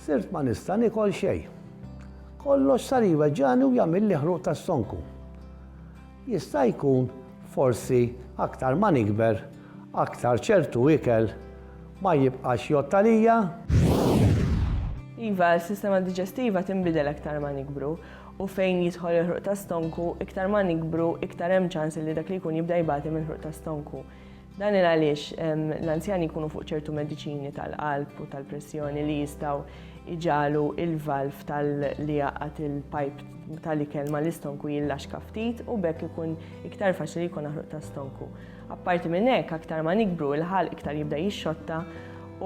Sirt ma nista' niekol xejn. Kollox sar jweġġagħni u jagħmilli ħruq tas-sonku. Jista' jkun forsi aktar ma nikber aktar ċertu ikel ma jibqax jgħodd għalija? Iva, is-sistema diġestiva tinbidel aktar ma nikbru u fejn jidħol il-ħruq tas-stonku, iktar ma nikbru iktar hemm ċans li dak li jkun jibda jbati mill-ħruq tas-stonku. Dan il għaliex l-anzjani jkunu fuq ċertu mediċini tal-qalb u tal-pressjoni li jistaw iġalu il-valf tal-li jaqat il-pajp tal-ikel ma l-istonku jillaxka ftit u bekk ikun iktar faċli jkun aħruq ta' stonku. Apparti minn hekk aktar ma nikbru il-ħal iktar jibda jixxotta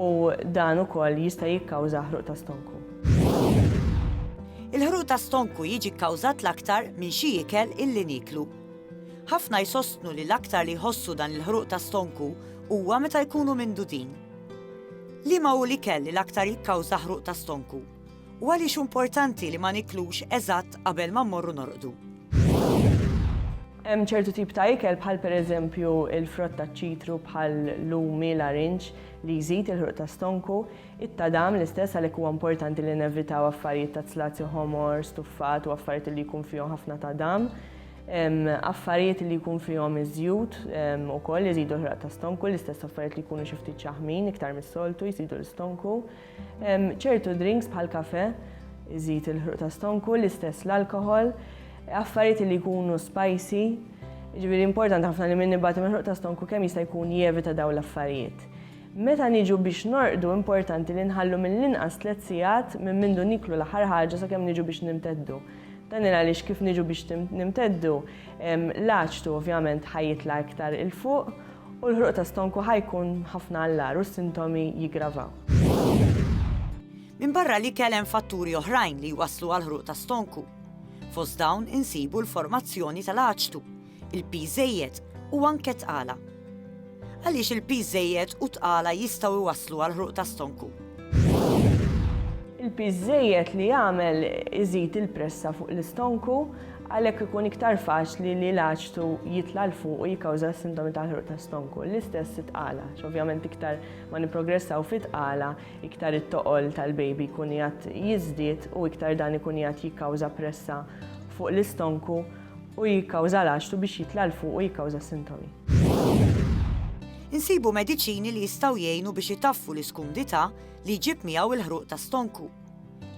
u dan ukoll jista' jikkawża ħruq ta' stonku. Il-ħruq ta' stonku jiġi kkawżat l-aktar minn xi ikel illi niklu. Ħafna jsostnu li l-aktar li jħossu dan il-ħruq ta' stonku huwa meta jkunu mindudin. Liema hu l-ikel li l-aktar jikkawża ħruq ta' stonku, u għaliex hu importanti li ma niklux eżatt qabel ma mmorru norqdu? Hemm ċertu tip ta' ikel bħal pereżempju l-frott taċ-ċitru bħal lumi, larinġ li jżid il-ħruq ta' stonku, It-tadam, l-istess għalhekk huwa importanti li nevitaw affarijiet ta' zlazju ħomor, stuffat u affarijiet li jkun fihom ħafna tadam. Affarijiet li jkun fihom iż-żjut ukoll iżidu l-ħraq ta' stonku, l-istess affarijiet li jkunu xi ftit ċaħmin iktar mis-soltu jżidu l-istonku. Ċertu drinks bħal kafe iżid il-ħruq ta' stonku, l-istess l-alkohol, affarijiet li jkunu spicy. Ġifieri importanti ħafna li min nibgħat il-ħruq ta' stonku kemm jista' jkun jevita dawn l-affarijiet. Meta niġu biex norqdu importanti li nħallu mill-inqas tliet sigħat minn mindu nieklu l-aħħar ħaġa sakemm niġu biex nimteddu. Dan il għaliex kif niġu biex nimteddu, l-aċtu ovvjament ħa jitla' iktar 'il fuq u l-ħruq ta' stonku ħa jkun ħafna għall-agħar u s-sintomi jiggravaw. Minbarra l-ikel hemm fatturi oħrajn li jwasslu għall-ħruq ta' stonku. Fost dawn insibu l-formazzjoni tal-aċtu, il-piż żejjed u anke tqala. Għaliex il-piż żejjed u tqala jistgħu jwasslu għal ħruq ta' stonku? Il-piż żejjed li jagħmel iżid il-pressa fuq l-istonku, għalhekk ikun iktar faċli li l-aċtu jitla' 'l fuq u jikkawża s-sintomi tal-ħruq ta' stonku. L-istess it-tqala, x'ovvjament iktar ma nipprogressaw fit-tqala, iktar it-toqol tal-baby jkun qiegħed jiżdied u iktar dan ikun qiegħed jikkawża pressa fuq l-istonku, u jikkawża l-għaxtu biex jitla' 'l fuq u jikkawża s-sintomi. Insibu mediċini li jistgħu jgħinu biex itaffu l-iskumdità li jġib miegħu l-ħruq ta' stonku.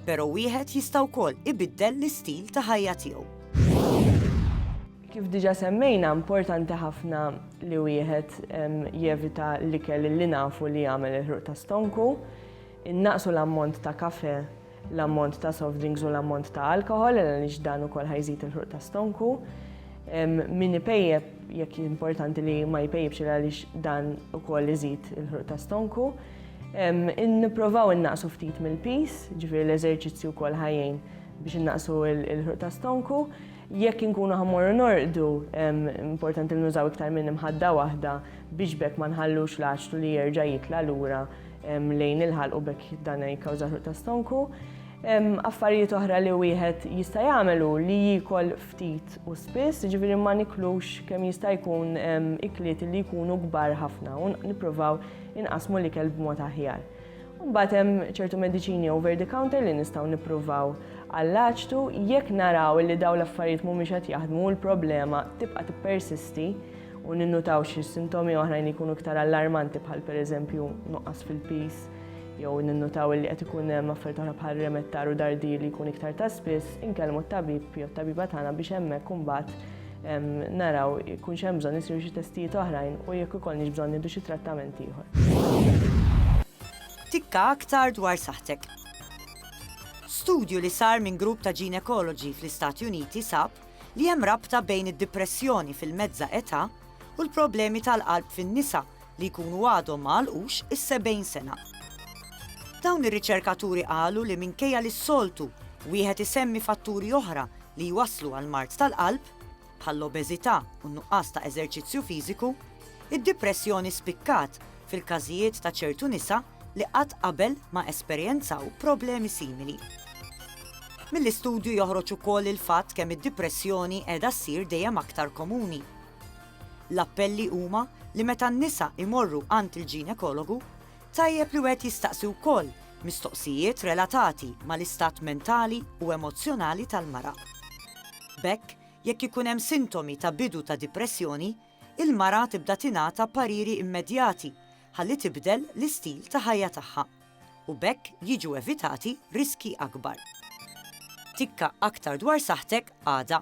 Però wieħed jista' wkoll ibiddel l-istil ta' ħajja tiegħu. Kif diġà semmejna, importanti ħafna li wieħed jevita l-ikel li nafu li jagħmel il-ħruq ta' stonku, innaqsu l-ammont ta' kafè l-ammont ta' soft drinks u l-ammont ta' alkohol, għaliex dan ukoll ħajżid il-ħruq ta' stonku. Min ipejjeb jekk importanti li ma jpejjibx għaliex dan ukoll iżid il-ħruq ta' stonku. Nipprovaw innaqsu ftit mill-pis, ġifieri l-eżerċizzju wkoll ħajjin biex innaqsu il-ħruq ta' stonku. Jekk inkunu ħammorru norqdu, importanti li nużaw iktar minn imħadda waħda biex bekk ma nħallux l-għaxtu li jerġa' jitla' lura lejn il-ħalq u b'hekk dan jikkawża ħruq ta' stonku. Affarijiet oħra li wieħed jista' jagħmel hu li jiekol ftit u spiss, jiġifieri ma niklux kemm jista' jkun ikliet li jkunu kbar ħafna u nippruvaw inqasmu l-ikel b'mod aħjar. Mbagħad hemm ċertu mediċini over the counter li nistgħu nippruvaw għall-aċtu jekk naraw li dawn l-affarijiet mhumiex qed jaħdmu l-problema tibqa' tippersisti u ninnutaw xi sintomi oħrajn li jkunu iktar allarmanti bħal pereżempju nuqqas fil-pis jew ninnutaw li qed ikun hemm affarijiet oħra bħal remettar u dardi li jkun iktar ta' spiss, inkellmu t-tabib jew t-tabiba tagħna biex hemmhekk imbagħad naraw ikun hemm bżonn isiru xi testijiet oħrajn u jekk ikollniex bżonn nieħdu xi trattament ieħor. Tikka aktar dwar saħtek. Studju li sar minn grupp ta' ginekoloġi fl-Istati Uniti sab li hemm rabta bejn id-dipressjoni fil-mezzà età u l-problemi tal-qalb fin-nisa li jkunu għadhom ma għalqux is-70 sena. Dawn ir-riċerkaturi qalu li minkejja li s-soltu wieħed isemmi fatturi oħra li jwasslu għal mard tal-qalb, bħall-obeżità u n-nuqqas ta' eżerċizzju fiżiku, id-dipressjoni spikkat fil-każijiet ta' ċertu nisa li qatt qabel ma esperjenzaw problemi simili. Mill-istudju joħroġ ukoll il-fatt kemm id-dipressjoni qiegħda ssir dejjem aktar komuni. L-appelli huma li meta n-nisa imorru għand il-ġinekologu, tajjeb li wieħed jistaqsi wkoll mistoqsijiet relatati mal-istat mentali u emozzjonali tal-mara. B'hekk, jekk ikun hemm sintomi ta' bidu ta' dipressjoni, il-mara tibda tingħata pariri immedjati ħalli tibdel l-istil ta' ħajja tagħha u b'hekk jiġu evitati riskji akbar. Tikka aktar dwar saħħtek għada.